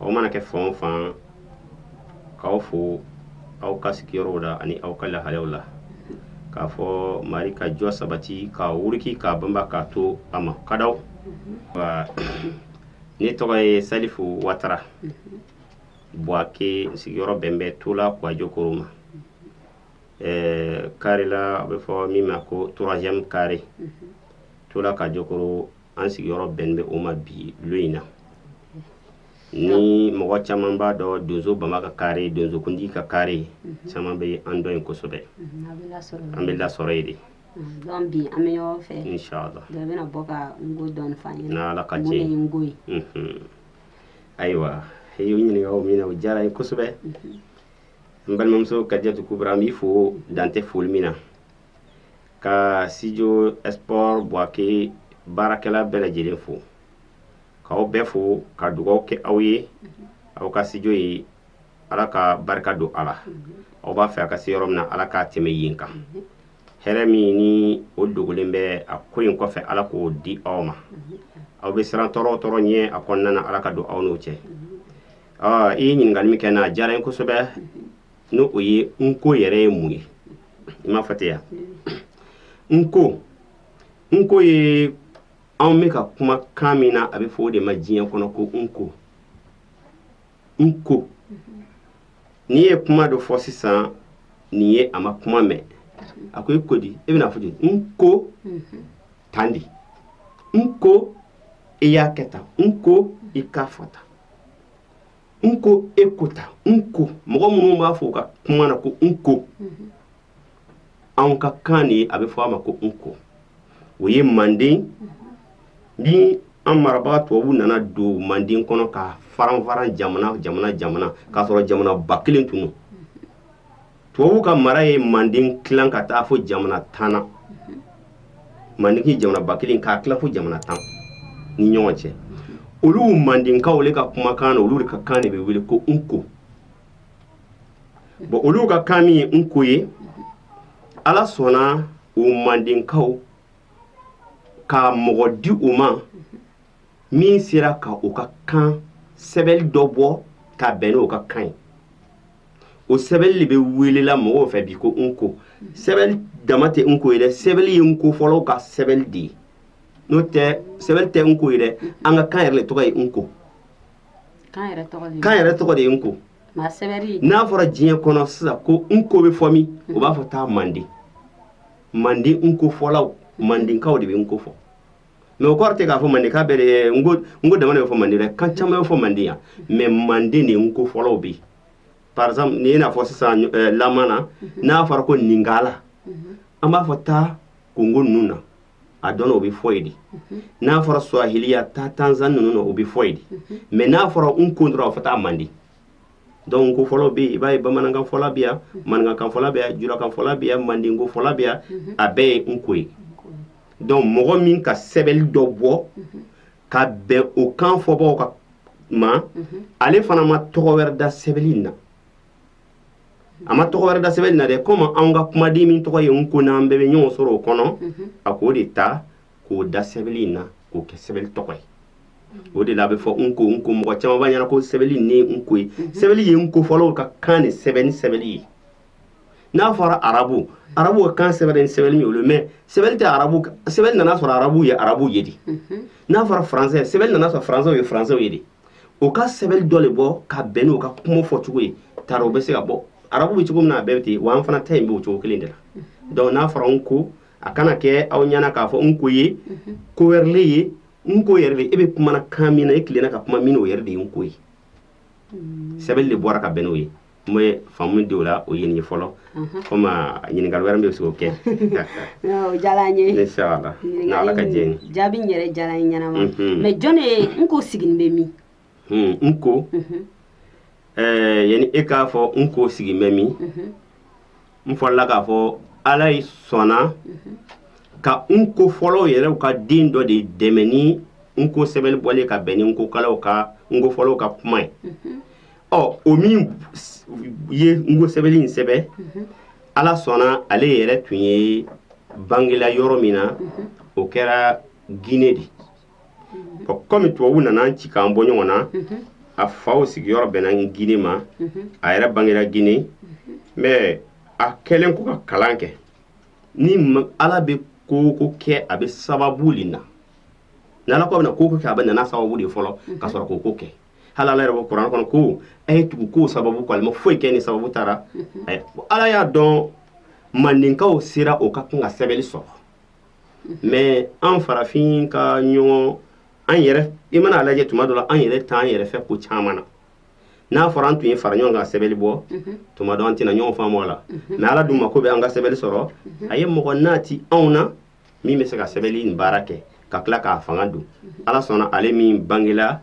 aw mana kɛ fan o fan k'aw fo aw ka sigiyɔrɔw la ani aw ka lahalaw la k'a fɔ mari ka jɔ sabati k'a wuriki k'a banba k'a to a ma kadaw ne tɔgɔ ye salifu watara buwake sigiyɔrɔ bɛnnen bɛ tola kuwajokoro ma kari la a bɛ fɔ min ma ko turazɛme kari tola kuwajokoro an sigiyɔrɔ bɛnnen bɛ o ma bi lon in na ni mɔgɔ caman b'a dɔn donso bama ka kari donsokundi ka kari caman bɛ an dɔn yen kosɛbɛ an bɛ lasɔrɔ yen de ayiwa ɲininkali min o diyara n ye kosɛbɛ n balimamuso ka jate ko an b'i fo dantɛ foli min na ka sijo esport buwake baarakɛla bɛɛ lajɛlen fo k'aw bɛɛ fo ka dugaw kɛ aw ye aw ka sijo ye ala ka barika don a la aw b'a fɛ a ka se yɔrɔ min na ala k'a tɛmɛ yen kan hɛrɛ min ni o dogolen bɛ a ko in kɔfɛ ala k'o di aw ma aw bɛ siran tɔɔrɔ o tɔɔrɔ ɲɛ a kɔnɔna na ala ka don aw n'o cɛ i ye ɲininkali min kɛ n na a diyara n ye kosɛbɛ N'o ye n ko yɛrɛ ye mun ye i m'a fɔ ten ya n ko n ko ye anw bɛ ka kuma kan min na a bɛ fɔ o de ma diɲɛ kɔnɔ ko n ko n ko n'i ye kuma dɔ fɔ sisan nin ye a ma kuma mɛn a ko i ko di e bɛna a fɔ di n ko tan di n ko i y'a kɛ tan n ko i k'a fɔ tan n ko e ko tan n ko mɔgɔ minnu b'a fɔ u ka kuma na ko n ko anw ka kan de a bɛ fɔ a ma ko n ko o ye manden ni an marabaga tubabu nana don manden kɔnɔ k'a faranfaran jamana jamana jamana k'a sɔrɔ jamanaba kelen tun tubabu ka mara ye manden tila ka taa fo jamana tan na manden jamanaba kelen k'a tila fo jamana tan ni ɲɔgɔn cɛ olu mandenkaw ka kumakan na olu de ka kan de bɛ wele ko n ko bon olu ka kan min ye n ko ye ala sɔnna u mandenkaw ka mɔgɔ di u ma min sera ka u ka kan sɛbɛnli dɔ bɔ ka bɛn ni u ka kan ye o sɛbɛnli de bɛ welela mɔgɔw fɛ bi ko n ko sɛbɛnli dama tɛ n ko ye dɛ sɛbɛnli ye n ko fɔlaw ka sɛbɛnli de ye n'o tɛ sɛbɛnli tɛ n ko ye dɛ an ka kan yɛrɛ de tɔgɔ ye n ko kan yɛrɛ tɔgɔ de ye n ko n'a fɔra diɲɛ kɔnɔ sisan ko n ko bɛ fɔ min u b'a fɔ taa manden manden n ko fɔlaw mandenkaw de bɛ n ko fɔ mɛ o kɔrɔ tɛ k'a fɔ mande kan bɛɛ n ko dan bɛ fɔ mande dɛ kan caman bɛ fɔ mande yan mɛ mande de n ko fɔlaw bɛ parce i n'a fɔ sisan la na n'a fɔra ko lingala an b'a fɔ taa kongo ninnu na a dɔn o bɛ fɔ yen de n'a fɔra suwahili a taa tanzani ninnu na o bɛ fɔ yen de mɛ n'a fɔra n ko dɔrɔn a fɔ taa mande donc n ko fɔla bɛ i b'a ye bamanankan fɔla bɛ yan maninkakan fɔla bɛ yan julakan fɔla bɛ yan mandenko fɔla bɛ yan a bɛɛ ye n ko ye donc mɔgɔ min ka sɛbɛli dɔ bɔ ka bɛn o kan fɔbagaw kan ma ale fana ma tɔgɔ wɛrɛ da sɛbɛli na a ma tɔgɔ wɛrɛ da sɛbɛli na dɛ komi anw ka kumaden min tɔgɔ ye n ko n'an bɛɛ bɛ ɲɔgɔn sɔrɔ o kɔnɔ mhm. a k'o de ta k'o da sɛbɛli na k'o kɛ sɛbɛli tɔgɔ ye mhm. o de la a bɛ fɔ n ko n ko mɔgɔ caman b'a ɲɛna ko sɛbɛli le ye n ko ye mhm. sɛbɛli ye n ko fɔlaw ka kan in sɛbɛnni sɛbɛli ye n'a fɔra arabu arabu ka kan sɛbɛnni sɛbɛli ye olu mɛ sɛbɛn tɛ arabu sɛbɛn nan'a sɔrɔ arabu ye arabu ye de n'a fɔra faransɛ sɛbɛn nan'a sɔrɔ faransɛw ye faransɛw ye de o ka sɛbɛn dɔ de bɔ ka bɛn n'o ka kuma fɔcogo ye taara o bɛ se ka bɔ arabu bɛ cogo min na a bɛɛ bɛ ten wa an fana ta in bɛ o cogo kelen de la donc n'a fɔra n ko a kana kɛ aw ɲɛna k'a fɔ n ko ye ko wɛrɛ le ye n ko yɛrɛ de e bɛ kuma la kan min na e tilenna ka kuma min o yɛrɛ de ye n ko ye sɛbɛn de bɔra ka bɛn n'o ye N y'a faamu de la o ɲini fɔlɔ kɔmi ɲininkali wɛrɛ bɛ sɔrɔ kɛ jaabi yɛrɛ diyara n ɲɛna mɛ jɔn n ko sigilen bɛ min n ko ɛɛ yan e k'a fɔ n ko sigilen bɛ min n fɔrala k'a fɔ ala ye sɔnna ka n ko fɔlaw yɛrɛ ka den dɔ de dɛmɛ ni n ko sɛbɛli bɔlen ka bɛn ni ko ka n ko fɔlaw ka kuma ye ɔ o min ye n ko sɛbɛli in sɛbɛn mhm. ala sɔnna ale yɛrɛ tun ye bangela yɔrɔ min na mhm. o kɛra gine de mhm. ɔ kɔmi tubabu nana an ci k'an bɔ ɲɔgɔn na a faw sigiyɔrɔ bɛnna gine ma a yɛrɛ bangela gine mɛ a kɛlen kɔ ka kalan kɛ ni ala bɛ ko o ko kɛ a bɛ sababu de na ni ala ko a bɛna ko o ko kɛ a bɛ na n'a sababu de fɔlɔ ka sɔrɔ k'o ko kɛ hali ala yɛrɛ b'a fɔ kuranɛ kɔnɔ ko a ye tugu kow sababu kɔ ala ma foyi kɛ ni sababu t'a la ala y'a dɔn maninkaw sera o ka kan ka sɛbɛnni sɔrɔ mɛ an farafin ka ɲɔgɔn an yɛrɛ i man'a lajɛ tuma dɔ la an yɛrɛ t'an yɛrɛ fɛ ko caman na n'a fɔra an tun ye fara ɲɔgɔn kan sɛbɛnni bɔ tuma dɔ an tɛna ɲɔgɔn faamu a la mɛ ala dun mako bɛ an ka sɛbɛnni sɔrɔ a ye mɔgɔ n'a tɛ anw na min bɛ se ka sɛbɛli nin baara kɛ ka tila k'a fanga don ala sɔnna ale min bangela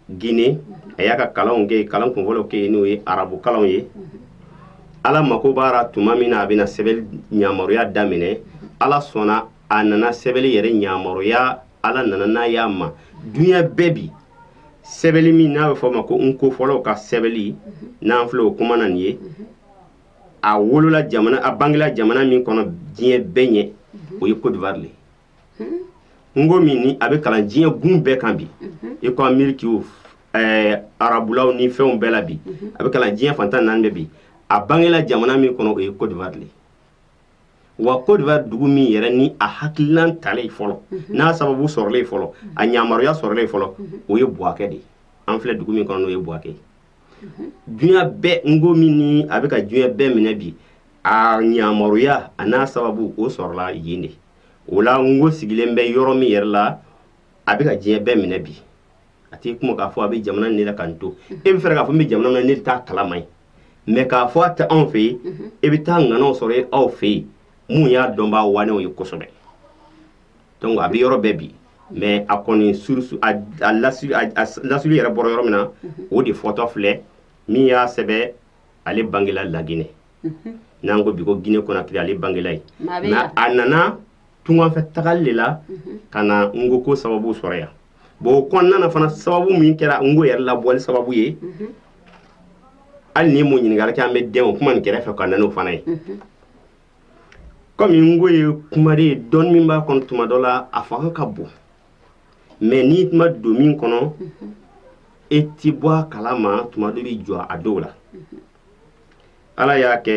gine a y'a ka kalanw kɛ kalan kunfɔlɔ kɛ yen n'o ye arabu kalanw ye ala mako b'a la tuma min na a bɛna sɛbɛli yamaruya daminɛ ala sɔnna a nana sɛbɛli yɛrɛ yamaruya ala nana n'a y'a ma dunya bɛɛ bi sɛbɛli min n'a bɛ fɔ a ma ko n ko fɔlaw ka sɛbɛli n'an filɛ o kuma na nin ye a wolola jamana a bangela jamana min kɔnɔ diɲɛ bɛɛ ɲɛ o ye kodiwari de n ko min ni a bɛ kalan diɲɛ gun bɛɛ kan bi i ko ameriki arabulaw ni fɛnw bɛɛ la bi a bɛ kalan diɲɛ fan tan ni naani de bi a bangela jamana min kɔnɔ o ye kodiwari de wa kodiwari dugu min yɛrɛ ni a hakililan talen fɔlɔ n'a sababu sɔrɔlen fɔlɔ a yamaruya sɔrɔlen fɔlɔ o ye buwakɛ de ye an filɛ dugu min kɔnɔ o ye buwakɛ ye dunya bɛɛ n ko min ni a bɛ ka dunya bɛɛ minɛ bi a yamaruya a n'a sababu o sɔrɔla yen de o la n ko sigilen bɛ yɔrɔ min yɛrɛ la a bɛ ka diɲɛ bɛɛ minɛ bi a tɛ kuma k'a fɔ a bɛ jamana ne la ka n to e bɛ fɛ k'a fɔ n bɛ jamana min na ne de t'a kala ma yen mɛ k'a fɔ a tɛ anw fɛ yen e bɛ taa ŋanaw sɔrɔ yen aw fɛ yen mun y'a dɔnbaa waanɛw ye kosɛbɛ donc a bɛ yɔrɔ bɛɛ bi mais a kɔni source a lasuli yɛrɛ bɔra yɔrɔ min na o de fɔtɔ filɛ min y'a sɛbɛn ale bangela laginɛ n'an ko bi ko guinée conakry ale bangela yen nka a nana tunganfɛ tagali de la ka na n ko ko sababu sɔrɔ yan bon o kɔnɔna na fana sababu min kɛra n ko yɛrɛ labɔli sababu ye hali n'i m'o ɲininkali kɛ an bɛ dɛn o kuma nin kɛrɛfɛ ka na n'o fana ye kɔmi n ko ye kuma de ye dɔnni min b'a kɔnɔ tuma dɔ la a fanga ka bon mɛ n'i ma don min kɔnɔ e tɛ bɔ a kala ma tuma dɔ bɛ jɔ a dɔw la ala y'a kɛ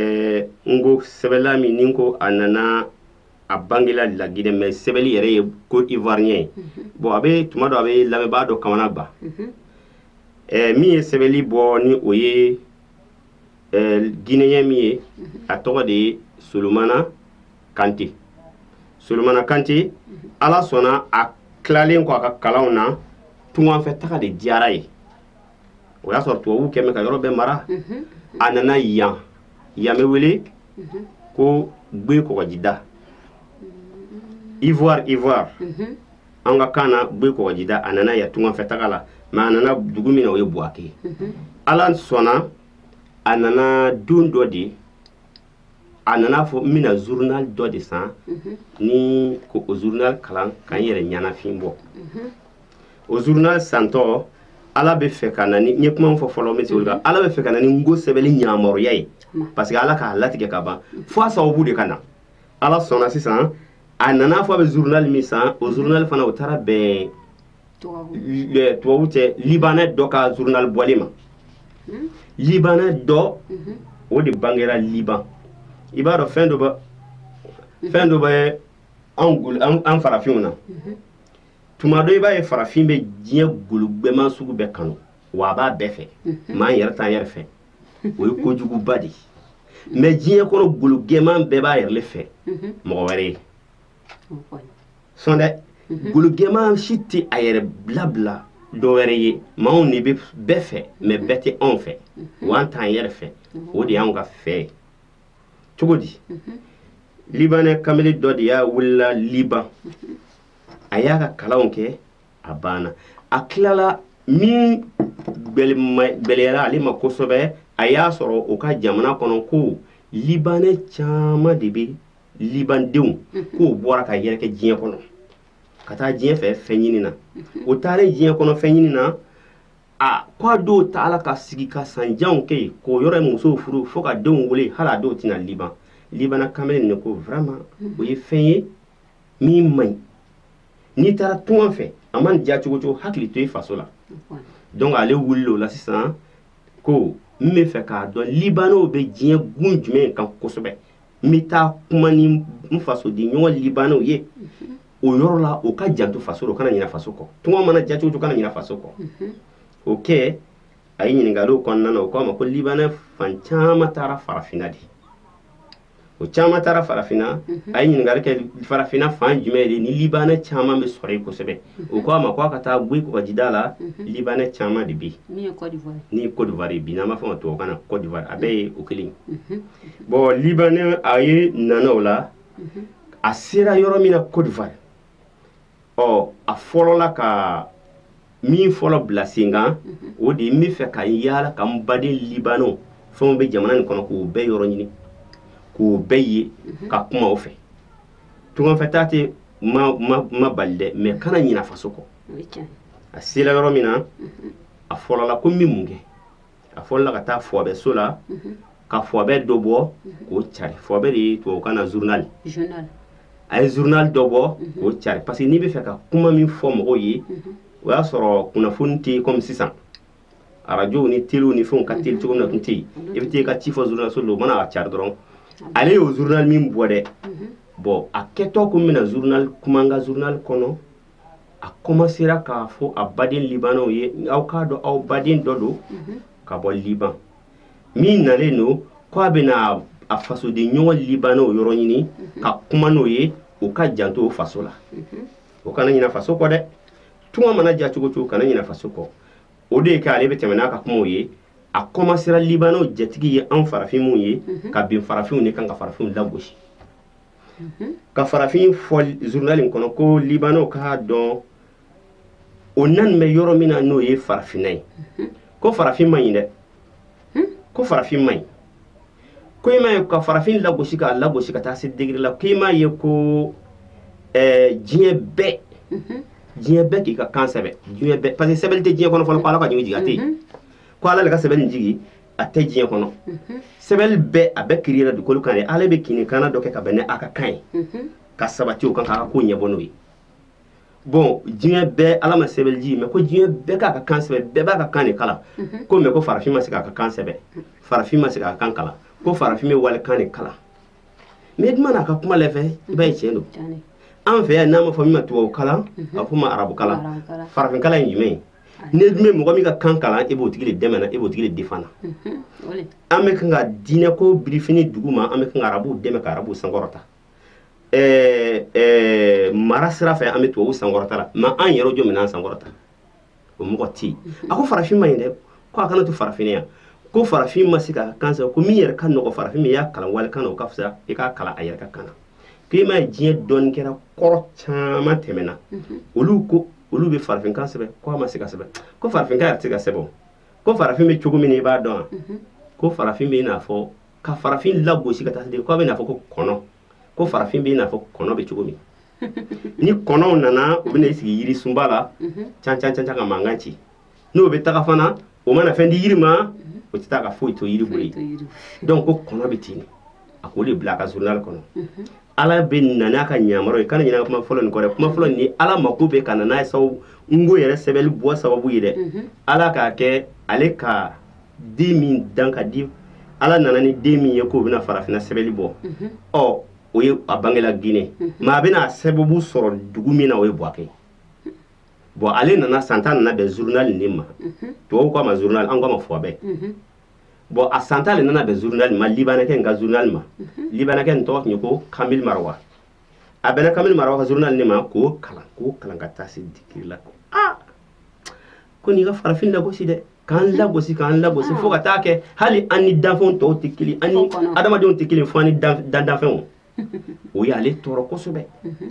n ko sɛbɛla min ni ko a nana a bangela laginɛ mɛ sɛbɛli yɛrɛ ye ko ivoirien ye bon a bɛ tuma dɔ a bɛ lamɛnbaa dɔ kamanagban min ye sɛbɛli bɔ ni o ye guinéen min ye a tɔgɔ de ye solomana kante solomana kante ala sɔnna a tilalen kɔ a ka kalanw na tunganfɛ taga de diyara a ye o y'a sɔrɔ tubabu kɛmɛ ka yɔrɔ bɛɛ mara a nana yan yan bɛ wele ko gbe kɔgɔjida ivoire ivoire an ka kan na gbe kɔgɔjida a nana yan tunganfɛ taga la mɛ a nana dugu min na o ye buwakɛ ala sɔnna a nana don dɔ de a nana fɔ n bɛna journal dɔ de san ni k'o journal kalan ka n yɛrɛ ɲɛnafin bɔ o journal santɔ ala bɛ fɛ ka na ni n ye kuma fɔ fɔlɔ bɛ se kan ala bɛ fɛ ka na ni nko sɛbɛnni ɲamɔgɔya ye parce que ala k'a latigɛ ka ban fo a sababu de ka na ala sɔnna sisan a nana fɔ a bɛ journal min san o journal fana o taara bɛn tubabu cɛ libanɛ dɔ ka journal bɔlen ma libanɛ dɔ o de bangera liban i b'a dɔn fɛn dɔ fɛn dɔ bɛ an farafinw na tuma dɔ i b'a ye farafin bɛ diɲɛ gologɛman sugu bɛɛ kanu wa a b'a bɛɛ fɛ mɛ an yɛrɛ t'an yɛrɛ fɛ o ye kojuguba de ye mɛ diɲɛ kɔrɔ gologɛman bɛɛ b'a yɛrɛ fɛ mɔgɔ wɛrɛ ye sɔn dɛ mhm. gologɛman si tɛ a yɛrɛ bilabila dɔ wɛrɛ ye mɛ anw de bɛ bɛɛ fɛ mɛ bɛɛ tɛ anw fɛ mhm. wa an t'an yɛrɛ fɛ mhm. o de y'anw ka fɛ ye cogo di libanɛ kamalen dɔ de y'a wulila liban a y'a ka kalanw kɛ a banna a tilala min gbɛlɛyara ale ma kosɛbɛ a y'a sɔrɔ o ka jamana kɔnɔ ko libanɛ caman de bɛ libandenw k'o bɔra ka yɛrɛkɛ diɲɛ kɔnɔ ka taa diɲɛ fɛ fɛn ɲini na o taalen diɲɛ kɔnɔ fɛn ɲini na a k'a dɔw taala ka sigi ka sanjanw kɛ yen k'o yɔrɔ musow furu fo ka denw wolo hali a dɔw tɛ na liban libanɛ kamalen nin ko vraiment o ye fɛn ye min man ɲi n'i taara tunga fɛ a man diya cogo cogo hakili to i faso la donc ale wulila o la sisan ko n bɛ fɛ k'a dɔn libanɛw bɛ diɲɛ gun jumɛn kan kosɛbɛ n bɛ taa kuma ni n fasoden ɲɔgɔn libanɛw ye o yɔrɔ la o k'o janto faso la o kana ɲinɛ faso kɔ tunga mana diya cogo o cogo kana ɲinɛ faso kɔ o kɛ a ye ɲininkaliw kɔnɔna na o k'a ma ko libanɛ fan caman taara farafinna de o caman taara farafinna a ye ɲininkali kɛ farafinna fan jumɛn de ni libanɛ caman bɛ sɔrɔ yen kosɛbɛ o k'a ma ko a ka taa guyi kɔgɔjida la libanɛ caman de bɛ yen n'o ye kɔdiwari bi n'an b'a fɔ o ma tubabukan na kɔdiwari a bɛɛ ye o kelen ye bon libanɛ a yɛrɛ nana o la a sera yɔrɔ min na kɔdiwari a fɔlɔla ka min fɔlɔ bila sen kan o de ye n bɛ fɛ ka yaala ka n baden libanɛw fɛnw bɛ jamana nin kɔnɔ k'o bɛɛ yɔrɔ ɲini k'o bɛɛ ye ka kuma o fɛ tungafɛ taa tɛ maa bali dɛ mɛ kana ɲina faso kɔ a sera yɔrɔ min na a fɔlɔla ko n bɛ mun kɛ a fɔ la ka taa fɔɔbɛ so la ka fɔɔbɛ dɔ bɔ k'o cari fɔɔbɛ de ye tubabukan na journal a ye journal dɔ bɔ k'o cari parce que n'i bɛ fɛ ka kuma min fɔ mɔgɔw ye o y'a sɔrɔ kunnafoni tɛ yen kɔmi sisan arajo ni telew ni fɛnw ka teli cogo na tun tɛ yen i bɛ taa i ka ci fɔ journal so don o mana ka cari dɔrɔn ale y'o journal min bɔ dɛ bɔn a kɛtɔ tun bɛna na journal kuma ka journal kɔnɔ a kɔmansera k'a fɔ a baden libanw ye aw k'a dɔn aw baden dɔ don ka bɔ liban min nalen don k' a bɛna a fasoden ɲɔgɔn libanw yɔrɔ ɲini ka kuma n'o ye u ka janto faso la o kana ɲinɛ faso kɔ dɛ tunga mana diya cogo cogo kana ɲinɛ faso kɔ o de ye k'ale bɛ tɛmɛ n'a ka kuma ye a kɔmansera libanw jatigi ye an farafin minw ye ka bin farafinw de kan ka farafinw lagosi ka farafin fɔ journal in kɔnɔ ko libanw k'a dɔn o nanen bɛ yɔrɔ min na n'o ye farafinna ye ko farafin ma ɲi dɛ ko farafin ma ɲi ko e m'a ye ka farafin lagosi k'a lagosi ka taa se degeri la ko e m'a ye ko eh, diɲɛ bɛɛ diɲɛ bɛɛ k'i ka kan sɛbɛn diɲɛ bɛɛ parce que sɛbɛnni tɛ diɲɛ kɔnɔ fɔlɔ ko ala ka jigin jigin a tɛ yen ko ala de ka sɛbɛnni jigin a tɛ diɲɛ kɔnɔ sɛbɛnli bɛɛ a bɛɛ kiriyera dugukolo kan yan ale bɛ kini kana dɔ kɛ ka bɛn ne a ka kan ye ka sabati o kan ka ko ɲɛbɔ n'o ye bɔn diɲɛ bɛɛ ala ma sɛbɛn jigin mais ko diɲɛ bɛɛ k'a ka kan sɛbɛn bɛɛ b'a ka kan de kalan ko mais ko farafin ma se k'a ka kan sɛbɛn farafin ma se k'a kan kalan ko farafin bɛ walikan de kalan mais duma n'a ka kuma lajɛ i b'a ye tiɲɛ don an fɛ yan n'a ma fɔ min ma tubabu kalan a fɔ ma arabu kalan farafin kalan in jumɛn ye e dun bɛ mɔgɔ min ka kan kalan e b'o tigi de dɛmɛ na e b'o tigi de defan na mhm, an bɛ kan ka diinɛ ko birifini dugu ma an bɛ kan ka arabuw dɛmɛ ka arabuw sankɔrɔta ɛɛ ɛɛ mara sira fɛ an bɛ tubabuw sankɔrɔta la mais an yɛrɛ jɔn bɛ an sankɔrɔta o mɔgɔ tɛ yen mhm. a ko farafin ma ɲi dɛ ko a kana to farafin yan ko farafin ma se k'a kan sɛbɛn ko min yɛrɛ ka nɔgɔ farafin min y'a kalan walikan na o ka fisa i k'a kalan a yɛrɛ ka kan na k'i m'a ye diɲɛ dɔnnikɛla kɔrɔ caman tɛmɛna mhm. olu ko olu bɛ farafinkan sɛbɛn ko a ma se ka sɛbɛn ko farafinkan yɛrɛ tɛ se ka sɛbɛn ko farafin bɛ cogo min i b'a dɔn mhm. ko farafin bɛ i n'a fɔ ka farafin lagosi ka taa se k'a bɛ i n'a fɔ ko kɔnɔ ko farafin bɛ i n'a fɔ kɔnɔ bɛ cogo min ni kɔnɔw nana u bɛna i sigi yirisunba la mhm. can can can can ka mankan ci n'o bɛ taga fana o mana fɛn di yiri ma o tɛ taa ka foyi to yiri bolo yen donc ko kɔnɔ bɛ ten de a k'o de bila a ka journal kɔnɔ ala bɛ na n'a ka ɲamaraw ye kana ɲinɛ kuma fɔlɔ nin kɔ dɛ kuma fɔlɔ nin ala mako bɛ ka na n'a ye sababu nko yɛrɛ sɛbɛnni bɔ sababu ye dɛ ala k'a kɛ ale ka den min dan ka di ala nana ni den min ye k'o bɛna farafinna sɛbɛnni bɔ ɔ o ye a bangela Guinée mais a bɛna a sababu sɔrɔ dugu min na o ye Buwake bɔn ale nana san tan nana bɛn zurunali nin ma tubabu k'a ma zurunali an k'a ma fɔɔbɛ bɔn a san tan de nana bɛn zurunali ma libanɛkɛ in ka zurunali ma libanɛkɛ nin tɔgɔ tun ye ko kamɛli marawa a bɛn kamɛli mara ka zurunali nin ma k'o kalan k'o kalan ka taa se diki la ko aa ko nin ka farafin lagosi dɛ k'an lagosi k'an lagosi fo ka taa kɛ hali an ni danfɛnw tɔw tɛ kelen an ni adamadenw tɛ kelen fo ni dan danfɛnw o y'ale tɔɔrɔ kosɛbɛ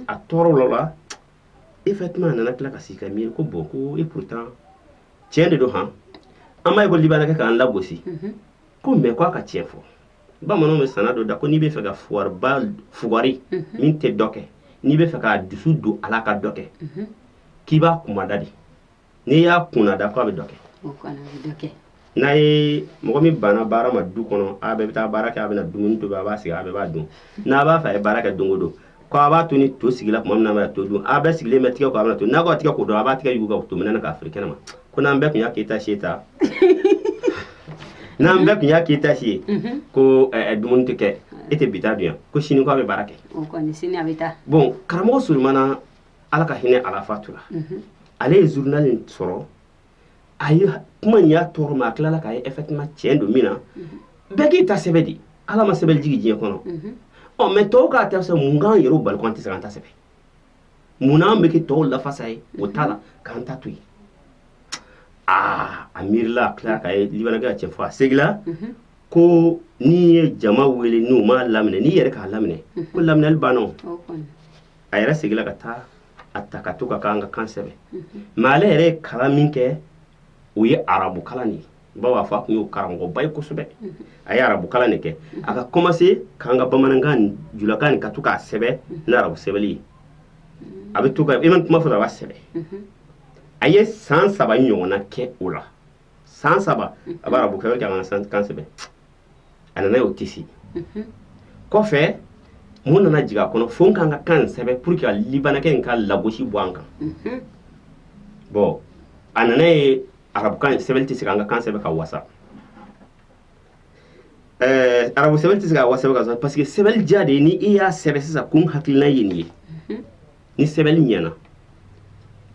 a tɔɔrɔla e fa tun nana tila k'i sigi ka miiri ko bɔn ko e pourtant tiɲɛ de don hɔn an ma ye ko libankɛ k'an lagosi mhm. ko mɛ k'a ka tiɲɛ fɔ bamananw bɛ sana dɔ da ko n'i bɛ fɛ ka fugari mhm. min tɛ dɔ kɛ n'i bɛ fɛ ka dusu don a la ka dɔ kɛ mhm. k'i b'a kunna da de n'i y'a kunna da ko a bɛ dɔ kɛ n'a ye mɔgɔ min banna baara ma du kɔnɔ a bɛɛ bɛ taa baara kɛ a bɛ dumuni to a b'a sigi a bɛ b'a dun n'a b'a fɛ a ye baara kɛ don o don ko a b'a to ni to sigila tuma min na to don a bɛ sigilen bɛ tigɛ a to n'a b'a tigɛ ko don a b'a tigɛ yugu ka to minɛ k'a fili kɛnɛ ma ko n'an bɛɛ tun y'a k'i ta si ta n'an bɛɛ tun y'a k'i ta si ye ko dumuni tɛ kɛ e tɛ bi dun yan ko sini a bɛ baara kɛ bon karamɔgɔ sulemana ala ka hinɛ a la fatura ale ye zurunali in sɔrɔ a ye kuma in y'a tɔɔrɔ mɛ a tilala k'a ye o tuma cɛn don munna bɛɛ k'i ta sɛbɛn di ala ma sɛbɛnli jigin diɲɛ kɔnɔ ɔ mɛ tɔw k'a ta sɔrɔ mun k'an yɛrɛ bali tɛ se an ta sɛbɛn munna bɛ kɛ tɔw lafasa ye u ta la k'an ta to yen aa a miirila a tila k'a ye libankɛ ka cɛn fɔ a segila ko n'i ye jama wele n'u m'a laminɛ n'i yɛrɛ k'a laminɛ ko laminɛli banna a yɛrɛ seginna ka taa a ta ka to ka k'an ka kan sɛbɛn mɛ ale yɛrɛ ye kalan min kɛ o ye arabu kalan de ye baw a fa tun ye karamɔgɔba ye kosɛbɛ a ye arabu kalan de kɛ a ka kɔmase k'an ka bamanankan ni julakan nin ka to k'a sɛbɛn ni arabu sɛbɛnli ye a bɛ to ka i ma kuma fɔ a b'a sɛbɛn a ye san saba ɲɔgɔnna kɛ o la san saba a bɛ arabu kɛ k'an kan sɛbɛn a nana y'o tɛ se kɔfɛ mun nana jigin a kɔnɔ fo n k'an ka kan sɛbɛn pour que libanakɛ in ka lagosi bɔ an kan bɔn a nana ye arabukan in sɛbɛn tɛ se an ka kan sɛbɛn ka wasa ɛɛ arabu sɛbɛn tɛ se ka wasa ka parce que sɛbɛn ja de ye ni i y'a sɛbɛn sisan kun hakilila ye nin ye ni sɛbɛnni ɲɛna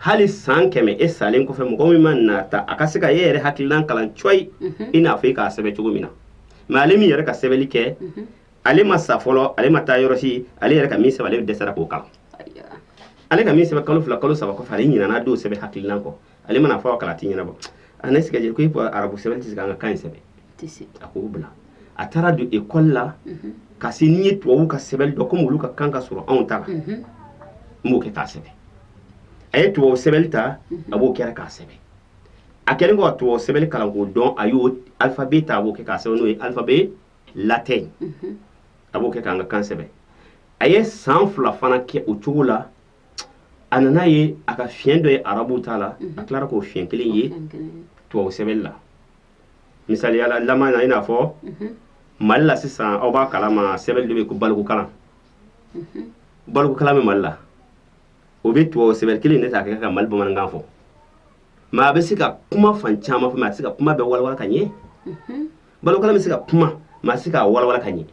hali san kɛmɛ e salen kɔfɛ mɔgɔ min mana ta a ka se ka e yɛrɛ hakilinan kalan cɔyi mhm. i n'a fɔ i k'a sɛbɛn cogo min na mɛ ale min yɛrɛ ka sɛbɛnni kɛ mhm. ale ma sa fɔlɔ ale ma taa yɔrɔ si ale yɛrɛ ka min sɛbɛn ale dɛsɛra k'o kalan ale ka min sɛbɛn kalo fila kalo saba kɔfɛ ale ɲinana dɔw sɛbɛn hakilinan kɔ ale mana fɔ kala tɛ ɲɛnabɔ a ne sigajɛ ko e ko arabu sɛbɛn tɛ se an ka kan in sɛbɛn a k'o bila a taara don ekɔli la mhm. ka se n'i ye tubabu ka sɛbɛn dɔn komi olu ka kan ka surun anw ta la mhm. n b'o kɛ k'a sɛbɛn a ye tubabu sɛbɛnni ta mhm. a b'o kɛra k'a sɛbɛn a kɛlen kɔ ka tubabu sɛbɛnni kalan k'o dɔn a y'o alifabe ta a b'o kɛ k'a sɛbɛn n'o ye alifabe latɛn a b'o kɛ k'an ka kan sɛbɛn a ye san fila fana kɛ o cogo la a nana ye a ka fiɲɛ dɔ ye arabu ta la a tilara k'o fiɲɛ kelen ye tubabu sɛbɛnni la misali la i n'a fɔ mali la sisan aw b'a kalama sɛbɛn dɔ bɛ ko balikukalan balikukalan bɛ mali la o bɛ tubabu sɛbɛn kelen de ta kɛ ka mali bamanankan fɔ mɛ a bɛ se ka kuma fan caman fɔ mɛ a tɛ se ka kuma bɛɛ walawala ka ɲɛ balikukalan bɛ se ka kuma mɛ a tɛ se k'a walawala ka ɲɛ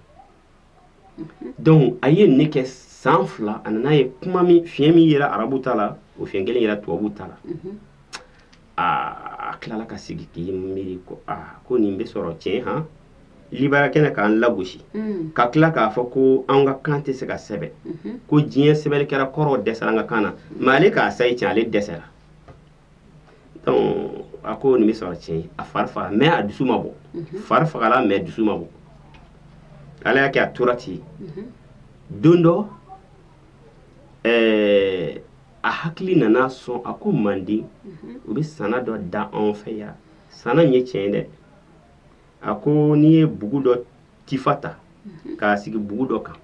dɔnku a ye ninnu ne kɛ san fila a nana ye kuma fiɲɛ min yera arabu ta la o fiɲɛ kelen yera tubabu ta la a tilala ka sigi k'i miiri ko ko nin bɛ sɔrɔ tiɲɛ ha libanɛ kɛ na k'an lagosi ka tila k'a fɔ ko an ka kan tɛ se ka sɛbɛn ko diɲɛ sɛbɛnni kɛra kɔrɔ dɛsɛra an ka kan na mɛ ale k'a sayi tiɲɛ ale dɛsɛra a ko nin bɛ sɔrɔ tiɲɛ a fari faga mɛ a dusu ma bɔ fari fagala mɛ dusu ma bɔ ala y'a kɛ a tora ten don dɔ a hakili nana sɔrɔ a ko manden u bɛ nsana dɔ da anw fɛ yan nsana nin ye tiɲɛ dɛ a ko n'i ye bugu dɔ tifa ta k'a sigi bugu dɔ kan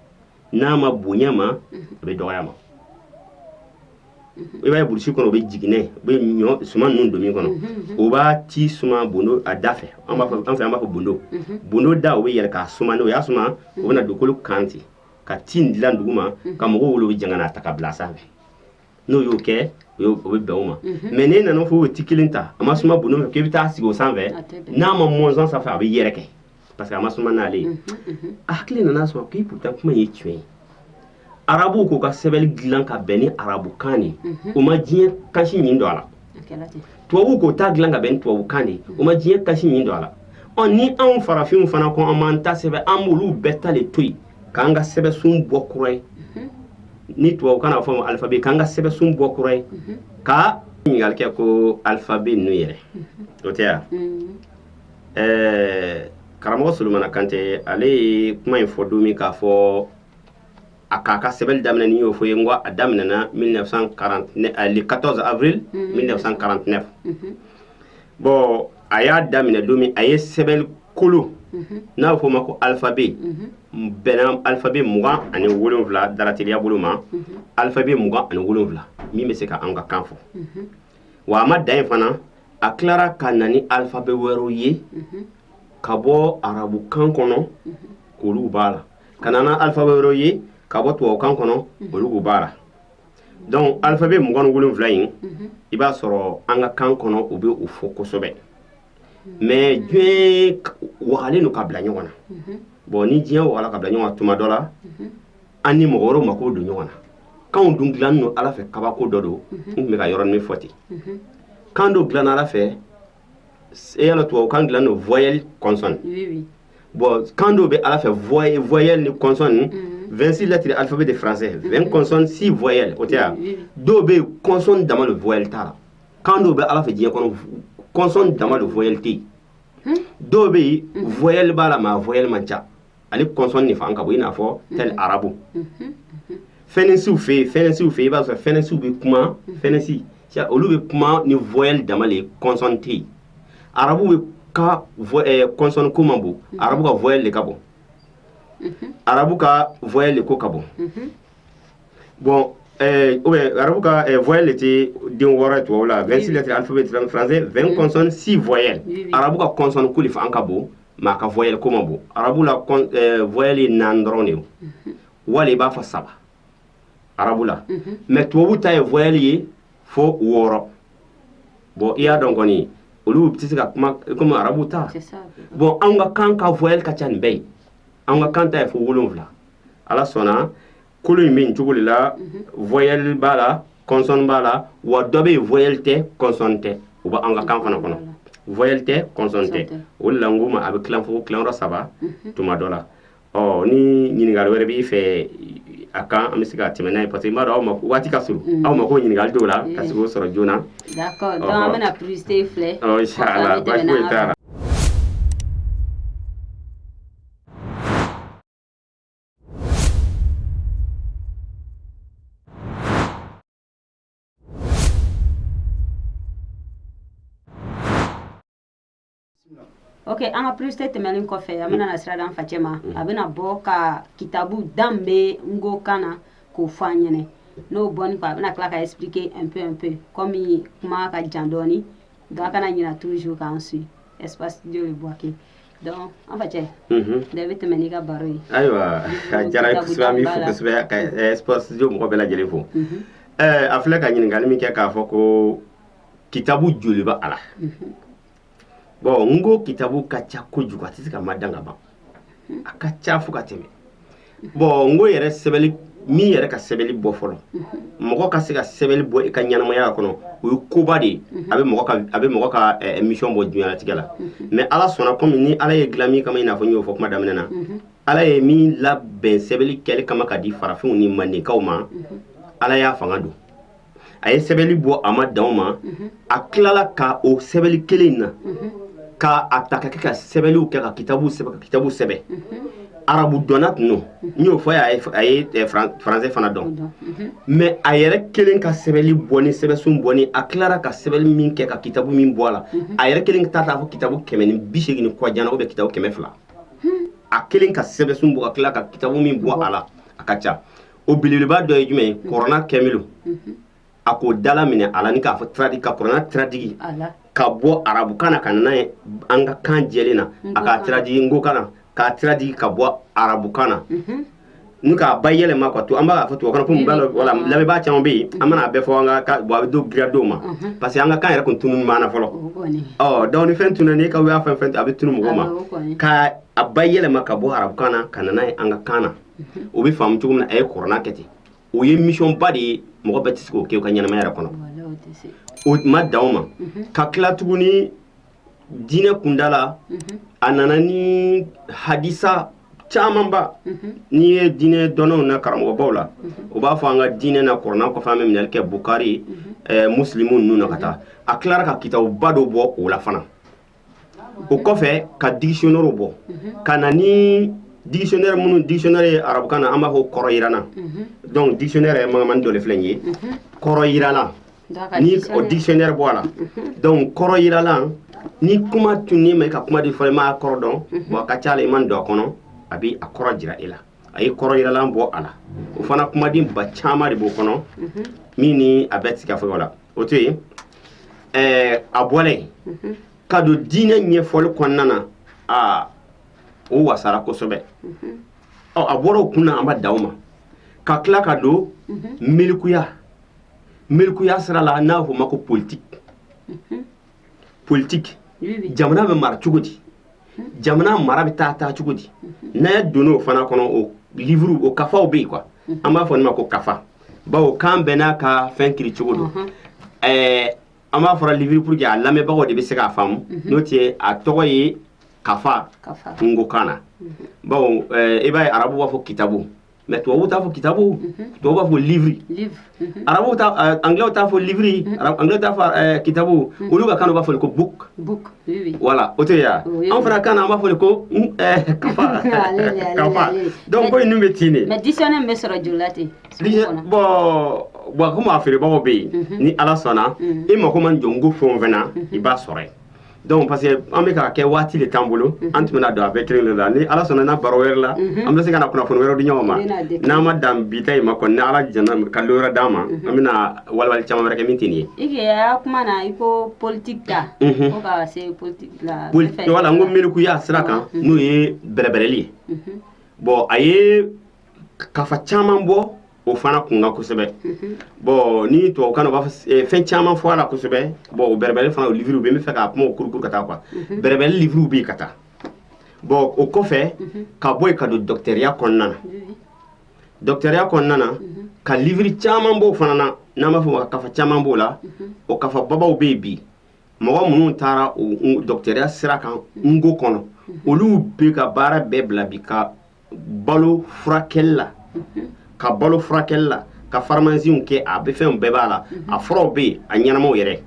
n'a ma bonya a ma a bɛ dɔgɔya a ma i b'a ye burusi kɔnɔ o bɛ jiginɛ bɛ ɲɔ suman ninnu don min kɔnɔ o b'a ti suman bondo a da fɛ an b'a fɔ an fɛ an b'a fɔ bondo bondo da o bɛ yɛrɛ k'a suman o y'a suma o bɛna dugukolo kan ten ka ti in dilan dugu ma ka mɔgɔw wele u bɛ jɛ ka n'a ta k'a bila sanfɛ n'o y'o kɛ o y'o o bɛ bɛn o ma unhun mais n'e nana fɔ o ti kelen ta a ma suma bondo fɛ k'i bɛ taa sigi o sanfɛ a tɛ bɛn n'a ma mɔnzɔn sanfɛ a bɛ yɛrɛkɛ parce que a ma suma n'ale ye unhun unhun a hakili nana sɔrɔ ko pourtant kuma in ye tiɲɛ ye arabuw k'u ka sɛbɛnni dilan ka bɛn ni arabukan de ye Mhm. u ma diɲɛ kan si ɲin don a la a kɛra ten tubabuw k'u ta dilan ka bɛn ni tubabukan de ye u ma diɲɛ kan si ɲin don a la ɔ ni anw farafinw fana ko an b'an ta sɛbɛn an b'olu bɛɛ ta de to yen k'an ka sɛbɛsun bɔ kura ye ni tubabukan na fɔ ma alifabe k'an ka sɛbɛsun bɔ kura ye ka ɲininkali kɛ ko alifabe ninnu yɛrɛ o tɛ yan ɛɛ karamɔgɔ solomana kante ale ye kuma in fɔ don min k'a fɔ a k'a ka sɛbɛnni daminɛ ni y'o fɔ ye nko a daminɛna 1949 le 14 avril 1949 bɔn a y'a daminɛ don min a ye sɛbɛn kolo n'a bɛ fɔ o ma ko alifabe bɛn alifabe mugan ani wolowula dara teliya bolo ma alifabe mugan ani wolowula min bɛ se ka an ka kan fɔ wa a ma dan yen fana a tilara ka na ni alifabe wɛrɛw ye ka bɔ arabu kan kɔnɔ olu b'a la ka na ni alifabe wɛrɛ ye ka bɔ tubabu kan kɔnɔ olu b'a la dɔnku alifabe mugan wolonwula in i b'a sɔrɔ an ka kan kɔnɔ u bɛ o fɔ kosɛbɛ mɛ diɲɛ wagalen ka bila ɲɔgɔn na bon ni diɲɛ waga ka bila ɲɔgɔn tuma dɔ la an ni mɔgɔ wɛrɛ mako don ɲɔgɔn na kan dun dilannen don ala fɛ kabako dɔ don tun bɛ ka yɔrɔ min fɔ ten kan dɔ dilan ala fɛ e yala to kan dila don voyali kɔnsɔn bon kan dɔw bɛ ala fɛ voyelle voyelle ni consonne ni mm-hmm. 26 lettres alphabet de français 20 mm-hmm. consonnes 6 voyelles o tɛ ya mm-hmm. dɔw bɛ yen consonne dama de voyelle t'a la kan dɔw bɛ ala fɛ diɲɛ kɔnɔ consonne dama de voyelle tɛ yen hmm? dɔw bɛ yen voyelle b'a la mais voyelle man ca ale consonne de fanga ka bon i n'a fɔ tel arabu fɛnɛsiw bɛ yen fɛnɛsiw bɛ yen i b'a sɔrɔ fɛnɛsiw bɛ kuma fɛnɛsi olu bɛ kuma ni voyelle dama de ye consonne tɛ yen arabu ka kɔsɔn ko man bon arabu ka vye de ka bɔ arabu ka vya de ko ka bɔ bɔn arabu ka vya de tɛ den wɔɔrɔ tu la vsi de an bɛ siran fane v kɔsɔn si vya arabu ka kɔsɔn kuli an ka bon maa ka vya ko ma bon arabu la vyali na dɔrɔn de wali i b'a fɔ saba arabu la mɛ tubabu ta ye voyali ye fo wɔɔrɔ bɔn i y'a dɔn kɔni olu tɛ se ka kuma komi arabu ta bɔn an ka kan ka voyali ka ca nin bɛɛ ye an ka kan ta ye fo wolonwula a la sɛbɛn kolo in bɛ cogo de la voyali b'a la kɔnsɔn b'a la wa dɔ bɛ yen voyali tɛ kɔnsɔn tɛ o bɛ an ka kan fana kɔnɔ voyali tɛ kɔnsɔn tɛ o la nko ma a bɛ tila fo tilayɔrɔ saba tuma dɔ la Ɔ ni ɲininkali wɛrɛ b'i fɛ a kan an bɛ se ka tɛmɛ n'a ye parce que mɔgɔw waati ka surun aw mako ɲininkali dɔw la ka so sɔrɔ joona ok an ka publicité tɛmɛnen kɔfɛ an bɛna na sirada an facɛ ma a bɛna bɔ ka kitabu dan bɛ nko kan na k'o fɔ an ɲɛna n'o bɔni kɔ a bɛna tila ka expliquer un peu un peu kɔmi kuma ka jan dɔɔni nka a kana ɲina toujours k'an su espace de le boike donc an facɛ da i bɛ tɛmɛ n'i ka baro ye ayiwa a diyara an ye kosɛbɛ an b'i fo kosɛbɛ ka espace de mɔgɔ bɛɛ lajɛlen fo a filɛ ka ɲininkali min kɛ k'a fɔ ko kitabu joli bɛ a la nko kitabu ka ca kojugu a tɛ se ka ma dan ka ban a ka ca fo ka tɛmɛ bɔn nko yɛrɛ sɛbɛn min yɛrɛ ka sɛbɛn bɔ fɔlɔ mɔgɔ ka se ka sɛbɛnni bɔ i ka ɲɛnamaya kɔnɔ o ye koba de ye a bɛ mɔgɔ ka misɔn bɔ duniyalatigɛ la mɛ ala sɔnna kɔmi ni ala ye dilan min kama in n'a fɔ y'o fɔ kuma daminɛ na ala ye min labɛn sɛbɛnni kɛli kama ka di farafinw ni mandenkaw ma ala y'a fanga don a ye sɛbɛnni bɔ a ma dan o ma a tilala ka o sɛbɛnni kelen in na ka a ta ka kɛ ka sɛbɛnw kɛ ka kitabu sɛbɛn ka kitabu sɛbɛn arabu dɔnna tun don n y'o fɔ a ye eh, faransɛ fana dɔn mɛ a yɛrɛ kelen ka sɛbɛnni bɔ ni sɛbɛnsun bɔ ni a tilara ka sɛbɛn min kɛ ka kitabu min bɔ a la a yɛrɛ kelen ta k'a fɔ kitabu kɛmɛ ni bi segin ni kɔjana o bɛ kitabu kɛmɛ fila a kelen ka sɛbɛnsun bɔ a tila ka kitabu min bɔ a la a ka ca o belebeleba dɔ ye jumɛn ye kurana kɛmilo a k'o dalaminɛ ala ni k'a fɔ tradi ka kurana tiradigi ka bɔ arabukan na ka nana ye an ka kan jɛ na a ka tiradigi nkokan na k'a tiradigi ka bɔ arabukan na n k'a bayɛlɛma ka to an b'a fɔ tu kana kun lamɛnbaa caman bɛ yen an mana bɛɛ fɔ an ka bɔ a bɛ dogo dɔ ma parce que an ka kan yɛrɛ tun tununna an na fɔlɔ ɔ dɔnku fɛn tun n'i ka y'a fɛn fɛn a bɛ tunun mɔgɔ ma ka a ba yɛlɛma ka bɔ arabukan na ka ye an ka kan na o bɛ faamu cogo min a ye kurana kɛ ten o ye misɔnba de ye mɔgɔ bɛɛ tɛ se k'o kɛ ka ɲɛnamaya yɛrɛ kɔnɔ a ma dan o ma ka tila tuguni diinɛ kunda la a nana ni hadisa camanba n'i ye diinɛ dɔnnaw na karamɔgɔbaw la o b'a fɔ an ka diinɛ na kurana kɔfɛ an bɛ minɛli kɛ bukari musilimu ninnu na ka taa a tilara ka kitabuba dɔ bɔ o la fana o kɔfɛ ka dikisiyɔnɛri bɔ ka na ni dikisiyɔnɛri minnu dikisiyɔnɛri ye arabukan na an b'a fɔ kɔrɔjiralan dɔnku dikisiyɔnɛri ye mankan dɔ filɛ ye kɔrɔjiralan ani o dikisiyɔnɛri bɔ a la dɔnku kɔrɔjiralan ni kuma tun ni ma ka kumaden fɔ i ma kɔrɔ dɔn wa ka ca i m'a dɔn a kɔnɔ a bɛ a kɔrɔ jira i la a ye kɔrɔjiralan bɔ a la o fana kumaden ba caman de b'o kɔnɔ min a bɛ se ka fɔ la o to yen ɛɛ a bɔra yen ka don diinɛ ɲɛfɔli kɔnɔna na aa o wasara kosɛbɛ ɔ a bɔra o kun na a ma dan o ma ka tila ka don milikuya milikuya sira la n'a fɔ o ma ko politiki politiki jamana bɛ mara cogo di jamana mara bɛ taa taa cogo di n'a donna o fana kɔnɔ o liuru o kafaw bɛ yen kuwa an b'a fɔ nin ma ko kafa bawo kan bɛn n'a ka fɛn kiri cogo dɔn an b'a fɔra liuru puru ke a lamɛnbagaw de bɛ se k'a faamu n'o tɛ a tɔgɔ ye kafa nkokan na bawo i b'a ye arabu b'a fɔ kitabu mais tubabu t'a fɔ kitabu tubabu b'a fɔ livre arabu angilɛw t'a fɔ livre angilɛ t'a fɔ kitabu olu ka kan b'a fɔ ko book voilà o tɛ ya anw fana kan an b'a fɔ ko kafa kafa donc ko ninnu bɛ ten de mais dictionnaire bɛ sɔrɔ joli la ten bɔn bɔn komi a feerebagaw bɛ yen ni ala sɔnna i mako mana jɔ n'ko fɛn o fɛn na i b'a sɔrɔ yen donc parce que an bɛ k'a kɛ waati de t'an bolo mhm. an tun bɛna don a bɛɛ kelen de la ni ala sɔnna an baro wɛrɛ la mhm. an bɛ se ka na kunnafoni wɛrɛw di ɲɔgɔn ma n'an ma dan bi ta in ma kɔni ni ala jɛnna ka lon wɛrɛ d'an ma mhm. an bɛna walawali caman wɛrɛ kɛ min tɛ nin ye. i kɛ a kuma na i ko politique ta. ko ka se politique la. politique wala n'ko miirikuya sira kan n'o ye bɛrɛbɛrɛli ye. bon a ye kafa caman bɔ o fana kun kosɛbɛ bɔn ni to kana b'a eh, fɛn caman fɔ a la kosɛbɛ bɔn o bɛrɛ fana uru bɛ fɛ k' kuma o kuru ka taa kuwa bɛrɛbɛn uru bɛ ka taa bɔn o kɔfɛ ka bɔ yen ka don dɔgɔtɔrɔya kɔnɔna dɔgɔtɔrɔya kɔnɔna ka uru caman b'o fana na n'an b'a fɔ kafa caman b'o la o kafa babaw bɛ yen bi mɔgɔ minnu taara dɔgɔtɔrɔya sira kan n'ko kɔnɔ olu bɛ ka baara bɛɛ bila bi ka balo furakɛ la ka balo furakɛ la ka faramansinw kɛ a bɛ fɛn bɛɛ b'a la a furaw bɛ yen a ɲɛnamaw yɛrɛ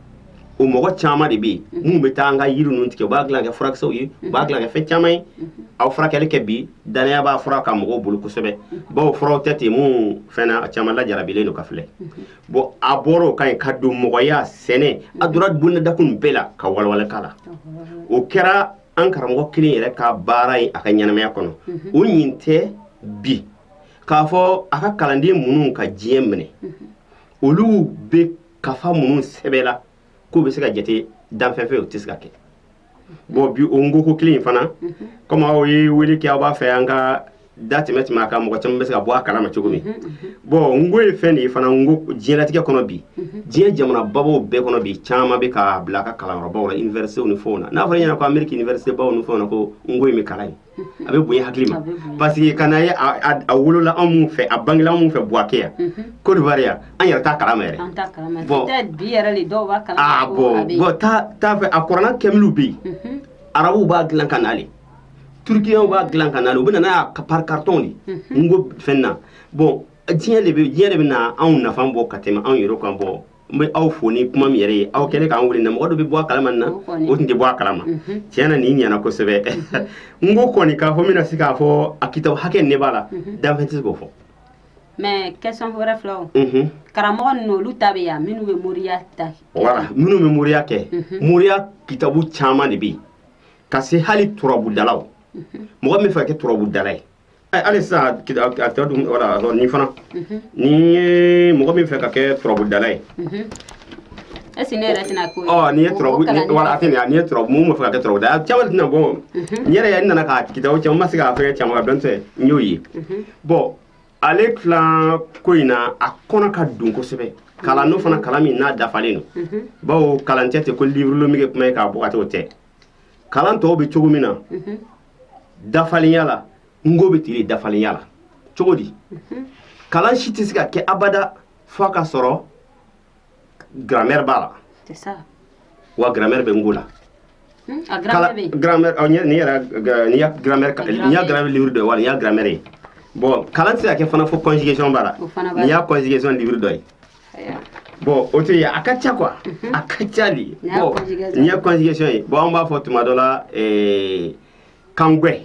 o mɔgɔ caman de bɛ yen minnu bɛ taa an ka yiri ninnu tigɛ u b'a dilan kɛ furakisɛw ye u b'a dilan kɛ fɛn caman ye a bɛ furakɛli kɛ bi dannaya b'a fura kan mɔgɔw bolo kosɛbɛ bawo furaw tɛ ten minnu fɛnna a caman lajarabilen don ka filɛ bɔn a bɔra o ka ɲi ka don mɔgɔya sɛnɛ a donna bonda kun bɛɛ la ka wawaleka la o kɛra an karamɔgɔ kelen yɛrɛ ka baara ye a ka ɲɛnamaya kɔnɔ mhm. o ɲin tɛ bi k'a fɔ a ka kalanden minnu ka diɲɛ minɛ mhm. olu bɛ kafa minnu sɛbɛla k'u bɛ se ka jate danfɛn fɛ o tɛ se ka kɛ mhm. bɔn bi o n'ko ko kelen in fana kɔmi aw ye wele kɛ aw b'a fɛ an ka da tɛmɛ tɛmɛ a kan mɔgɔ caman bɛ se ka bɔ a kalama cogo min bɔn n'ko ye fɛn de ye fana ko diɲɛlatigɛ kɔnɔ bi diɲɛ jamana babaw bɛɛ kɔnɔ bi caman bɛ ka bila a ka kalanbaw la iniwɛrisitew ni fɛnw na n'a fɔra ɲɛna ko ameriki iniwɛrisitebaw ni fɛn na ko n'ko bɛ kalan yen a bɛ bonya hakili ma parce que kan ye a wolola anw fɛ a bange anw fɛ buwake yan ko yan an yɛrɛ taa kalama yɛrɛ bɔn taa fɛ a kɔrɔ kɛmuru bɛ yen arabuw b'a dilan ka naale turukiyɛnw b'a dilan ka na u bɛ na n'a ye pari karitɔn de n'ko fɛn na bɔn diɲɛ de bɛ diɲɛ de bɛna a nafa bɔ ka tɛmɛ anw yɛrɛ kan bɔ n bɛ aw fo ni kuma min yɛrɛ ye aw kɛlen k'an wele na mɔgɔ dɔ bɛ bɔ a kalama na o tun tɛ bɔ a kalama tiɲɛ na nin ɲɛna kosɛbɛ n'ko kɔni k'a fɔ n bɛna se k'a fɔ a kitabu hakɛ ne b'a la danfɛn tɛ k'o fɔ mais question wɛrɛ filɛ o Mhm. karamɔgɔ ninnu olu ta bɛ yan minnu bɛ moriya ta wala minnu bɛ moriya kɛ moriya kitabu caman de bɛ yen ka se hali turabudalaw mɔgɔ min fɛ ka kɛ turabudala ye hali sisan tɛ dun wala ni fana ni ye mɔgɔ min fɛ ka kɛ turabudala ye ɛseke ne yɛrɛ tɛna ko ɔ ni ye turabu wala a tɛ nin ni ye turabu mun ma fɛ ka kɛ turabu da caman tɛna bɔ n yɛrɛ n nana k'a kitabu caman ma se k'a fɛn caman ka dɔn tɛ n y'o ye bɔn ale tilan ko in na a kɔnɔ ka dun kosɛbɛ kalan n'o fana kalan min n'a dafalen don bawo kalan si tɛ ko liburulomige kuma ye k'a bɔ ka t'o tɛ kalan tɔw bɛ cogo min na dafalenya la nko bɛ ten de dafalenya la cogo di kalan si tɛ se ka kɛ abada fo a ka sɔrɔ grammaire b'a la C'est ça. wa grammaire bɛ nko la Hmm? A Kala- grammaire bɛ yen. grammaire ɔ, n ye- nin yɛrɛ ga- nin y'a grammaire ka- Grammaire. nin y'a grammaire livre dɔ ye wa nin y'a grammaire ye bon kalan tɛ se ka kɛ fana fo conjugation b'a la O fana b'a la. nin y'a conjugation livre dɔ ye bɔn o tɔ ye a ka ca quoi mhm. a ka ca dɛ bɔn nin ye conjugation ye bɔn an b'a fɔ tuma dɔ la eh, kangwɛ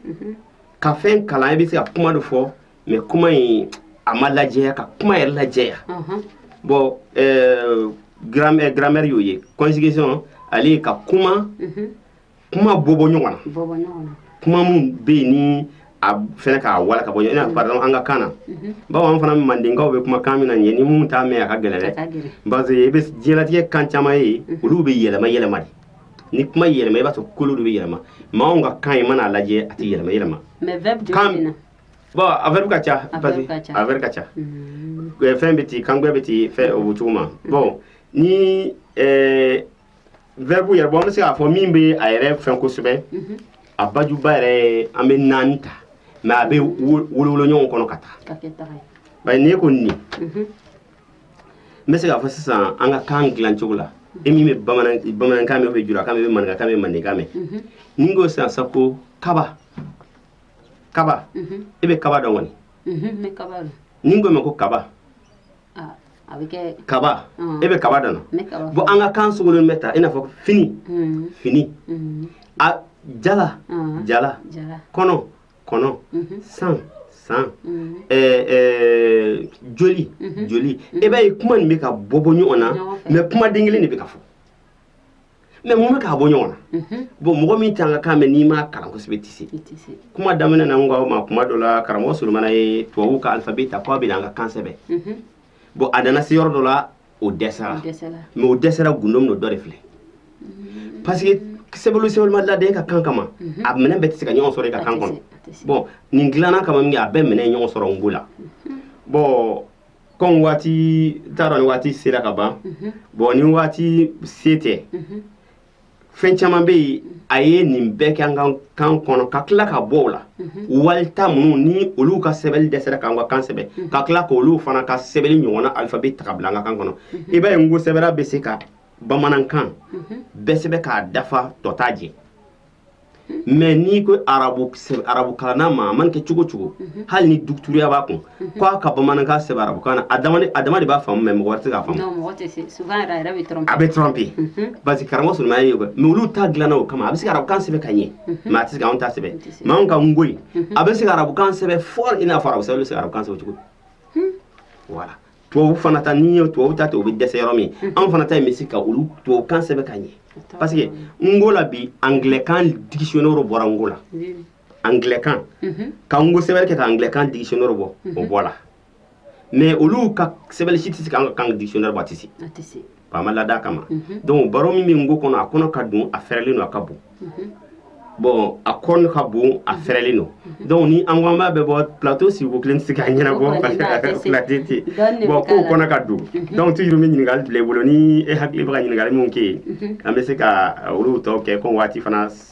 mhm. ka fɛn kalan i bɛ se ka kuma dɔ fɔ mɛ kuma in a ma lajɛya ka kuma yɛrɛ lajɛya mhm. bɔn eh, grammaire y'o ye conjugation ale ye ka kuma kuma bɔ bɔ ɲɔgɔn na kuma minnu bɛ yen ni a fɛ k'a wara ka bɔ ɲɔgɔn fara an ka kan bamanan fana mandenkaw bɛ kuma kan min na ɲɛ ni minnu t'a mɛn a ka gɛlɛn dɛ parce que i bɛ diɲɛtigɛ kan caman ye olu bɛ yɛlɛma yɛlɛma de ni kuma yɛlɛma i b'a sɔrɔ kolo de bɛ yɛlɛma mɛ an ka kan i mana a lajɛ a tɛ yɛlɛma yɛlɛma bɔn a bɛ ka ca a bɛ ka ca fɛn bɛ ten kantigɛ bɛ ten fɛn o cogo ma bɔn ni vɛribu yɛrɛ bɔn an bɛ se k'a fɔ min bɛ a yɛrɛ fɛn kosɛbɛ a bajuba yɛrɛ ye an bɛ naani ta mɛ a bɛ wolowolo ɲɔgɔn kɔnɔ ka taa bari n'i ko nin n bɛ se k'a fɔ sisan an ka kan dilan cogo la e min bɛ bamanankan mɛn bɛ julakan bɛ maninkakan bɛ mandenkan mɛn ni n ko sisan sa ko kaba kaba e bɛ kaba dɔn kɔni ni n ko i ma ko kaba kaba e bɛ kaba dɔn bɔn an ka kan sogolonnen bɛ tan i n'a fɔ fini fini a jala jala kɔnɔ kɔnɔ san san joli joli e b'a ye kuma nin bɛ ka bɔ bɔ ɲɔgɔn na mɛ kumaden kelen de bɛ ka fɔ mɛ mun bɛ k'a bɔ ɲɔgɔn na bon mɔgɔ min t'an ka kan mɛn n'i ma kalan kosɛbɛ i tɛ se kuma daminɛ na awa tuma dɔ la karamɔgɔ solomana ye tubabu ka alifabɛ ta k' a bɛ an ka kan sɛbɛn bɔn a nana se yɔrɔ dɔ la o dɛsɛra mɛ o dɛsɛra gundo min dɔ de filɛ parce que sɛbɛn sɛbɛnli ma ladan an ka kan kama a minɛn bɛɛ tɛ se ka ɲɔgɔn sɔrɔ i ka kan kɔnɔ bɔn nin dilanna kama min a bɛ minɛ ɲɔgɔn sɔrɔ nko la bɔn Kɔn waati taara ni waati sera ka ban bɔn ni waati se tɛ fɛn caman bɛ yen a ye nin bɛɛ kɛ an ka kan kɔnɔ ka tila ka bɔ o la wali minnu ni olu ka sɛbɛnni dɛsɛra k'an ka kan sɛbɛn ka tila k'olu fana ka sɛbɛnni ɲɔgɔnna alphabet ta k'a bila an ka kan kɔnɔ i b'a ye nko sɛbɛnra bɛ se ka bamanankan bɛɛ sɛbɛn k'a dafa tɔ t'a jɛ mais n'i ko arabu kalanna ma a mana kɛ cogo o cogo hali ni dɔgɔtɔrɔya b'a kun k'a ka bamanankan sɛbɛn arabukan na a dama de b'a faamu mɛ mɔgɔ tɛ a bɛ tɔn bɛ yen parce que karamɔgɔ sɔrɔ ye mɛ olu ta dilanna o kama a bɛ se arabukan sɛbɛn ka ɲɛ mais a tɛ se anw ta sɛbɛn mais anw ka nko a bɛ se arabukan sɛbɛn fɔ in n'a fɔ a bɛ se arabukan sɛbɛn cogo wala tubabu fana ta n'i ye tubabu ta ten o bɛ dɛsɛ yɔrɔ min mhm. anw fana ta in bɛ se ka olu tubabu kan sɛbɛn ka ɲɛ parce que nko la bi anglɛkan dictionnaire bɔra nko la anglɛkan mhm. ka nko sɛbɛnni kɛ ka anglɛkan dictionnaire bɔ o mhm. bɔla mais olu ka sɛbɛnni si tɛ se ka an ka kan dictionnaire bɔ a tɛ se a ma ladan a kama donc baro min bɛ nko kɔnɔ a kɔnɔ ka dun a fɛrɛlen don a ka bon bon a kɔnɔ ka bon a fɛrɛlen don donc ni an ko an b'a bɛɛ bɔ plateau sigiko kelen tɛ se k'a ɲɛnabɔ parce que plateau tɛ yen bon nko kɔnɔ ka dun donc toujours n bɛ ɲininkali bila i bolo ni e hakili bɛ ka ɲininkali min kɛ yen an bɛ se ka olu tɔ kɛ ko waati fana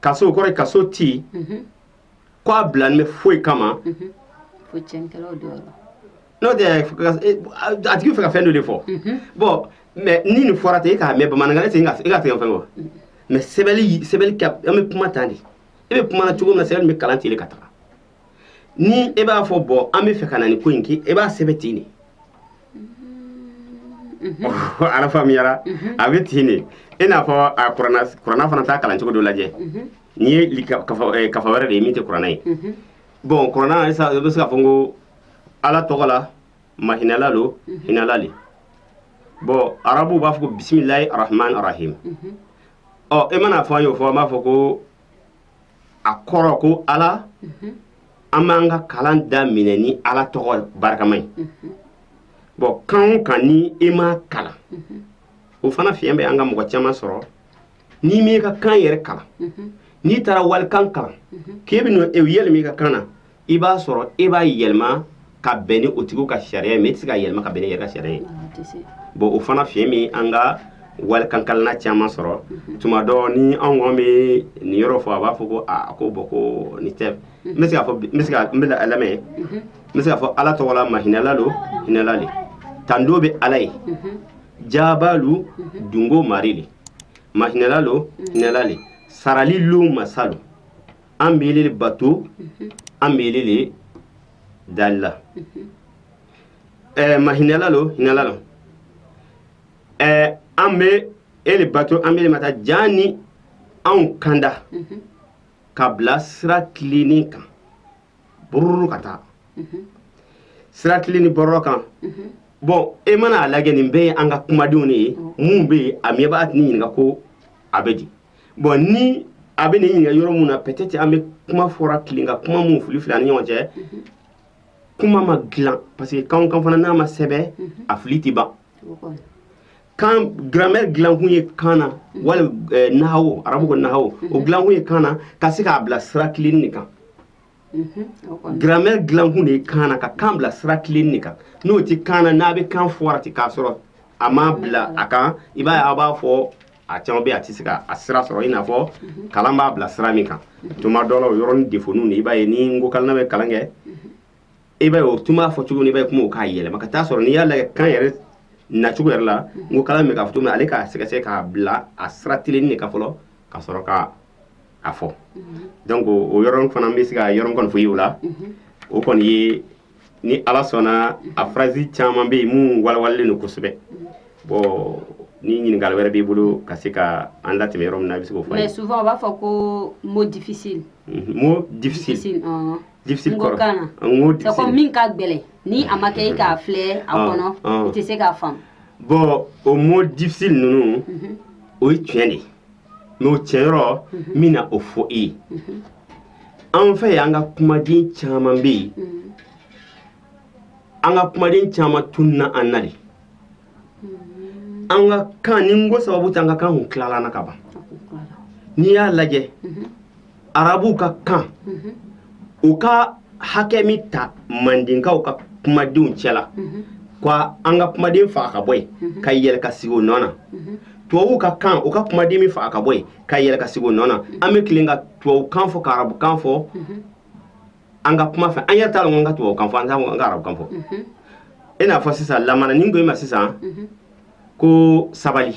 ka so kɔrɔ ka so tɛ yen ko a bilalen bɛ foyi kama n'a tigi fɛ ka fɛn dɔ de fɔ bɔn mais ni nin fɔra ten e k'a mɛ bamanan ten e ka tɛgɛ fɛn kɔ mais sɛbɛn an bɛ kuma tan de e bɛ kuma cogo min na sɛbɛn bɛ kalan ten de ka taa ni e b'a fɔ bɔ an b'a fɛ ka na nin ko in kɛ e b'a sɛbɛn ten de n'a faamuyara a bɛ ten de i n'a fɔ kurana fana taa kalancogo dɔ lajɛ n'i ye kafa wɛrɛ de ye min tɛ kurana ye bɔn kurana i bɛ se ka fɔ ko ala tɔgɔ la mahinɛla don hinɛla de bɔn arabu b'a fɔ ko bisimilahi rahmani rahim ɔ e mana a fɔ an y'o fɔ an b'a fɔ ko a kɔrɔ ko ala an b'an ka kalan daminɛ ni ala tɔgɔ barikama ye bɔn kan o kan ni i m'a kalan o fana fiɲɛ bɛ an ka mɔgɔ caman sɔrɔ ni i ma i ka kan yɛrɛ kalan n'i taara walikan kalan k'i b'a yɛlɛma i ka kan na i b'a sɔrɔ e b'a yɛlɛma ka bɛn ni o tigiw ka sariya ye mais e tɛ se ka yɛlɛma ka bɛn ni i yɛrɛ ka sariya ye bɔn o fana fiɲɛ bɛ an ka walikankalanna caman sɔrɔ mhm. tuma dɔ ni anw kɔn bɛ nin yɔrɔ fɔ a b'a fɔ ko aa ko bɔn ko nin tɛ mhm. n bɛ se ka fɔ n bɛ se ka n b'i lamɛn mhm. n bɛ se ka fɔ ala tɔgɔ la mahinɛla don hinɛla de tando bɛ ala ye jaabalu dungo mari de mahinɛla don hinɛla de sarali lon masa don an bɛ e de bato an bɛ e de dali la ɛɛ mahinɛla don hinɛla don ɛɛ an bɛ e de bato an bɛ ma taa jaani anw kanda ka bila sira tilennin kan bururu ka taa sira tilennin bɔrɔ kan bon e mana a lajɛ nin bɛɛ ye an ka kumadenw de ye mun bɛ yen a miba tɛ ni ɲininka ko a bɛ di bon ni a bɛ ne ɲininka yɔrɔ min na peut-être an bɛ kuma fɔra tilen ka kuma minnu filifili an ni ɲɔgɔn cɛ kuma ma dilan parce que kan kan fana n'a ma sɛbɛn a fili tɛ ban kan grammaire dilankun ye kan na wali nawo arabu ko nawo o dilankun ye kan na ka se k'a bila sira tilennin kan grammaire dilankun de kan ka kan bila sira tilen de kan n'o tɛ kan na n'a bɛ kan fɔ ten k'a sɔrɔ a ma bila a kan i b'a a b'a fɔ a caman bɛ a tɛ se k'a sira sɔrɔ i n'a fɔ kalan b'a bila sira min kan tuma dɔ o yɔrɔ ni de fɔ i b'a ye ni ko kalan bɛ kalan kɛ i b'a o tun b'a fɔ cogo i bɛ kungo k'a yɛlɛma ka taa sɔrɔ n'i y'a la kan yɛrɛ nacogo yɛrɛ la ko kala min ka to min ale k'a sɛgɛsɛgɛ k'a bila a sira tilen de kan fɔlɔ ka sɔrɔ k' a fɔ donc o yɔrɔ fana n bɛ se ka yɔrɔ min kɔni fɔ i y'o la o kɔni ye ni ala sɔnna a phrase caman bɛ yen minnu walawalalen don kosɛbɛ bon ni ɲininkali wɛrɛ b'i bolo ka se ka an latɛmɛ yɔrɔ min na a bɛ se o fɔ su b'a fɔ ko mot difficile mot difficile min ka gɛlɛn ni a ma kɛ i k'a filɛ a kɔnɔ tɛ se k'a faamu bon o mot difficile ninnu o ye tiɲɛ de n'o tiɲɛ yɔrɔ min na o fɔ i ye an fɛ yan an ka kumaden caman bɛ yen an ka kumaden caman tununna an na an ka kan ni nko sababu tɛ an ka kan tun tilala na ka ban n'i y'a lajɛ arabuw ka kan u ka hakɛ min ta mandenkaw ka kumadenw cɛla ko an ka kumaden faga ka bɔ yen ka yɛlɛ ka sigi o nɔ na tubabuw ka kan u ka kumaden min faga ka bɔ yen ka yɛlɛ ka sigi o nɔ na an bɛ tilen ka tubabu kan fɔ ka arabu kan fɔ an ka kuma fɛ an yɛrɛ t'a dɔn ka tubabu kan fɔ an t'a dɔn ka arabu kan fɔ i n'a fɔ sisan lamana ni n ko i ma sisan ko sabali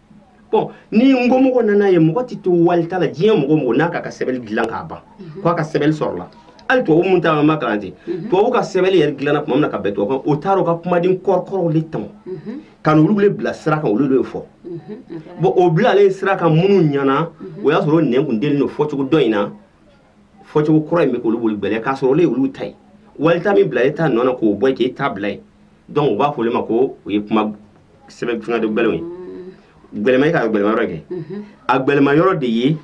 ni n ko mɔgɔ nana ye mɔgɔ tɛ to wali la diɲɛ mɔgɔ mɔgɔ n'a ka sɛbɛn dilan k'a ban k' a ka sɛbɛn sɔrɔ la hali to minnu taama ma garante tubabu ka sɛbɛn yɛrɛ dilanna tuma min na ka bɛn to kan o taara u ka kumaden kɔrɔkɔrɔw de tɔn ka olu bɛ bila sira kan olu de fɔ bon o bilalen sira kan minnu ɲɛnaana o y'a sɔrɔ nin kun den don fɔcogo dɔ in na fɔcogo kura in bɛ k'olu bolo bɛlɛ k'a sɔrɔ olu ye olu ta ye wali ta min bila e ta nɔ na k'o bɔ k'e ta bila yen donc u b'a fɔ ma ko o ye kuma sɛbɛn fanga don bɛlɛw ye gɛlɛma e ka gɛlɛma yɔrɔ kɛ a gɛlɛma yɔrɔ de ye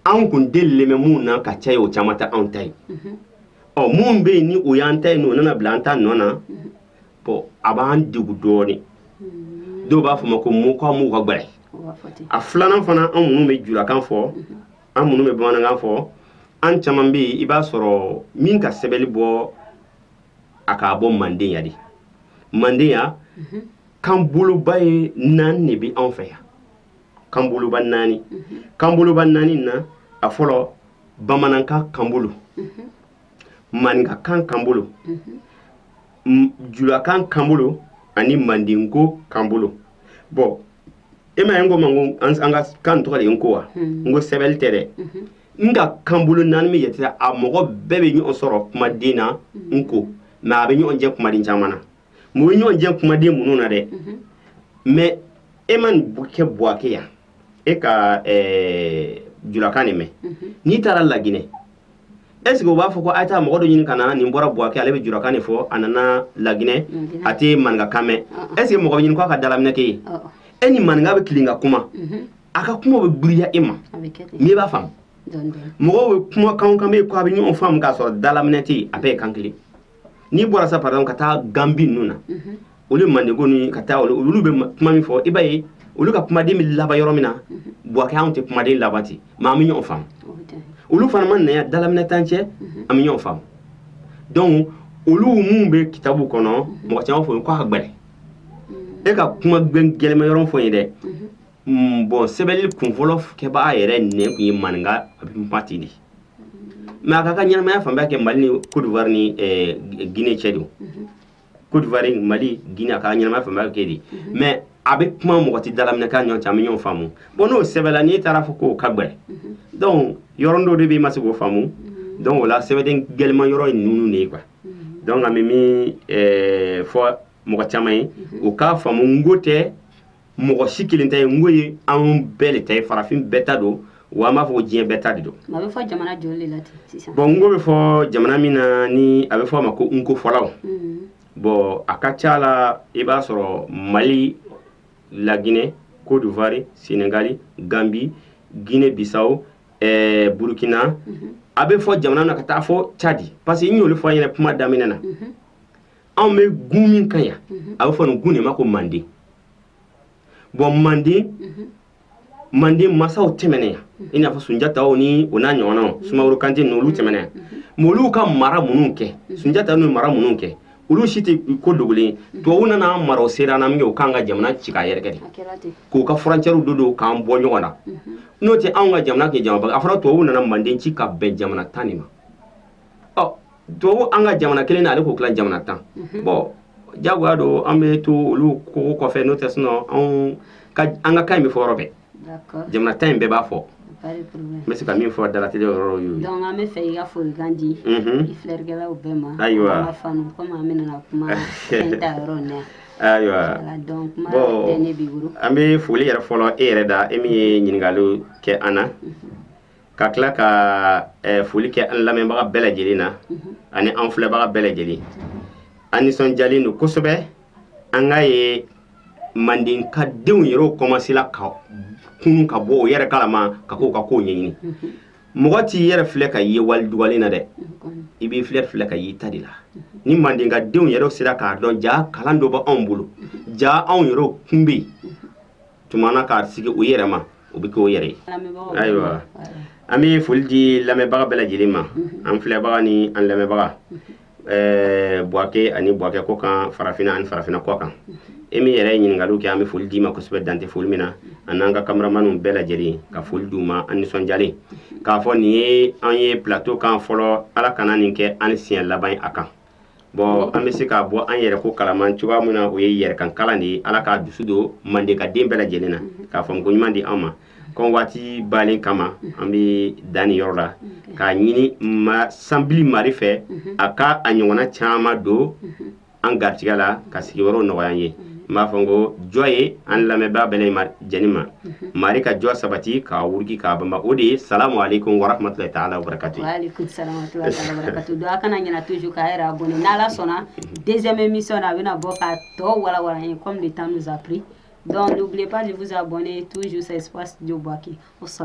anw kun denmɛ minnu na ka cɛ ye o caman tɛ anw ta ye ɔ minnu bɛ yen ni o y'an ta ye o nana bila an ta nɔ na bɔn a b'an degun dɔɔnin dɔw b'a fɔ ma ko n ko ka gɛlɛn a filanan fana anw minnu bɛ julakan fɔ an minnu bɛ bamanankan fɔ an caman bɛ yen i b'a sɔrɔ min ka sɛbɛnni bɔ a k'a bɔ manden yan de manden yan mhm. kan boloba ye naani de bɛ anw fɛ yan kan boloba naani mhm. kan boloba naani na a fɔlɔ bamanankan kan bolo mhm. maninkakan kan bolo julakan kan bolo ani mandenko kan bolo bɔn e m'a ye n ko ma ko an ka kan tɔgɔ de ye n ko wa hmm. n ko sɛbɛnli tɛ dɛ mhm. nka kan bolo naani bɛ yen a mɔgɔ bɛɛ bɛ ɲɔgɔn sɔrɔ kumaden na hmm. n ko mɛ a bɛ ɲɔgɔn jɛ kumaden caman na mun bɛ ɲɔgɔn jɛ kumaden minnu na dɛ mhm. mais e mana kɛ buwake yan e ka julakan de mɛn mhm. n'i taara laginɛ est ce que u b'a fɔ ko a ye taa mɔgɔ dɔ ɲini ka na nin bɔra buwake ale bɛ jurakan de fɔ a nana laginɛ a tɛ maninka kan mɛn est ce que mɔgɔ bɛ ɲini k'a ka dalaminɛ k'e ye e ni maninka bɛ tilen ka kuma a ka kuma bɛ giriya e ma mais i b'a faamu mɔgɔw bɛ kumakanw kan bɛ ye ko a bɛ ɲɔgɔn faamu k'a sɔrɔ dalaminɛ tɛ yen a bɛɛ ye kan kelen n'i bɔra sa pardon ka taa Gambie ninnu na olu mandenko ni ka taa olu bɛ kuma min fɔ i b'a ye olu ka kumaden bɛ laban yɔrɔ min na Buwake anw tɛ kumaden laban ten mais an bɛ ɲɔgɔn faamu olu fana mana na yan dalaminɛ t'an cɛ an bɛ ɲɔgɔn faamu donc olu minnu bɛ kitabu kɔnɔ mɔgɔ caman fɔ k'a ka gɛlɛn e ka kuma gɛlɛma yɔrɔ fɔ n ye dɛ bɔn sɛbɛnni kunfɔlɔ kɛbaga yɛrɛ de tun ye maninka a bɛ mati de mais a k'a ka ɲɛnamaya fanba kɛ mali ni kodwari ni eh, gine cɛ don mhm. kodwari mali gine a ka ɲɛnamaya fanba kɛ de mhm. mais a bɛ kuma mɔgɔ tɛ dalaminɛ k'an ɲɔgɔn cɛ an bɛ ɲɔgɔn faamu bɔn n'o sɛbɛnna n'i taara fɔ k'o ka gbɛlɛn mhm. donc yɔrɔnin dɔ de bɛ i ma se k'o faamu donc o la sɛbɛden gɛlɛma yɔrɔ ye ninnu de ye quoi donc an bɛ min eh, fɔ mɔgɔ caman ye o k'a faamu n ko tɛ mɔgɔ si kelen ta ye n ko ye anw bɛɛ de ta ye farafin bɛɛ ta don wa an b'a fɔ ko diɲɛ bɛɛ ta de don a bɛ fɔ jamana joli de la ten sisan bɔn n ko bɛ fɔ jamana min na ni a bɛ fɔ a ma ko n ko fɔlaw mm-hmm. bɔn a ka ca la i b'a sɔrɔ mali laginɛ cote d'ivoire senegali gambi guinée bissau eh, burkina mm-hmm. a bɛ fɔ jamana min na ka taa fɔ cadi parce que n y'o de fɔ an yɛrɛ kuma daminɛ na mm-hmm. anw bɛ gun min kan yan a bɛ fɔ nin gun de ma ko manden bɔn manden manden masaw tɛmɛna yan i n'a fɔ sunjata ni o n'a ɲɔgɔn sumaworo kante n olu tɛmɛna yan olu ka mara minnu kɛ sunjata n mara minnu kɛ olu si tɛ ko dogolen tubabu nana mara sera n' min u k'an ka jamana ci ka yɛrɛ de k'u ka furancɛw don don k'an bɔ ɲɔgɔn na n'o tɛ anw ka jamana kɛ jamana a fɔra tubabu nana manden ci ka bɛn jamana tan ni ma tubabu an ka jamana kelen nin ale k'o tila jamana tan mhm. bɔn jagoya don an bɛ to olu ko kɔfɛ n'o tɛ sinɔn anw an ka kan in bɛ fɔ yɔrɔ bɛɛ jamana tan in bɛɛ b'a fɔ n bɛ se ka min fɔ dalatɛ yɔrɔ ye donc an b'a fɛ i ka folikan di mhm. i filɛrikɛlaw bɛɛ ma ayiwa an ka fanu komi an bɛna na kuma fɛn ta yɔrɔ in na ayiwa bɔn an bɛ foli yɛrɛ fɔlɔ e yɛrɛ da e min ye ɲininkali kɛ an na mhm. ka tila ka foli kɛ an lamɛnbaga bɛɛ lajɛlen na ani an filɛbaga bɛɛ lajɛlen an nisɔnjalen don kosɛbɛ an k'a ye mandenka denw yɛrɛ kɔmansela ka kunun ka bɔ u yɛrɛ kalama ka ko ka ko ɲɛɲini mɔgɔ t'i yɛrɛ filɛ k'i ye wali dugalen na dɛ i b'i filɛ filɛ k'i ye i ta de la ni mandenka denw yɛrɛ sera k'a dɔn ja kalan dɔ b'anw bolo ja anw yɛrɛ kun bɛ yen tuma na k'a sigi u yɛrɛ ma u bɛ kɛ u yɛrɛ ayiwa an bɛ foli di lamɛnbaga bɛɛ lajɛlen ma an filɛbaga ni an lamɛnbaga buwake ani buwake kɔkan farafinna ani farafinna kɔkan e min yɛrɛ ɲininkali kɛ an bɛ foli d'i ma kosɛbɛ dan tɛ foli min na ani an ka kameramanw bɛɛ lajɛlen ka foli d'u ma an nisɔnjalen k'a fɔ nin ye an ye plateau kan fɔlɔ ala kana nin kɛ an siɲɛ laban a kan bɔn an bɛ se ka bɔ an yɛrɛ ko kalama cogoya min na o ye yɛrɛ kan kalan de ye ala k'a dusu don mandenka den bɛɛ lajɛlen na k'a fɔ ko ɲuman di an ma komi waati bannen kama an bɛ dan nin yɔrɔ la k'a ɲini mansa mari fɛ a k'a ɲɔgɔn caman don an garijɛgɛ la ka sigi wɛrɛw nɔgɔya an ye n b'a fɔ n ko jɔn ye an lamɛnbaa bɛ lajɛlen ma mari ka jɔ sabati k'a wuriki k'a ban o de ye sa ale ko wara tun tɛ taa ala wɛrɛkatu kana ɲɛna tuju k'a bon ni ala sɔnna denmɛ min sɔn a bɛna bɔ ka tɔ wawa ye kɔn bɛ tan zansaap dɔnkucbilenfa de bɛ bɔn tuju sa jɔki o sa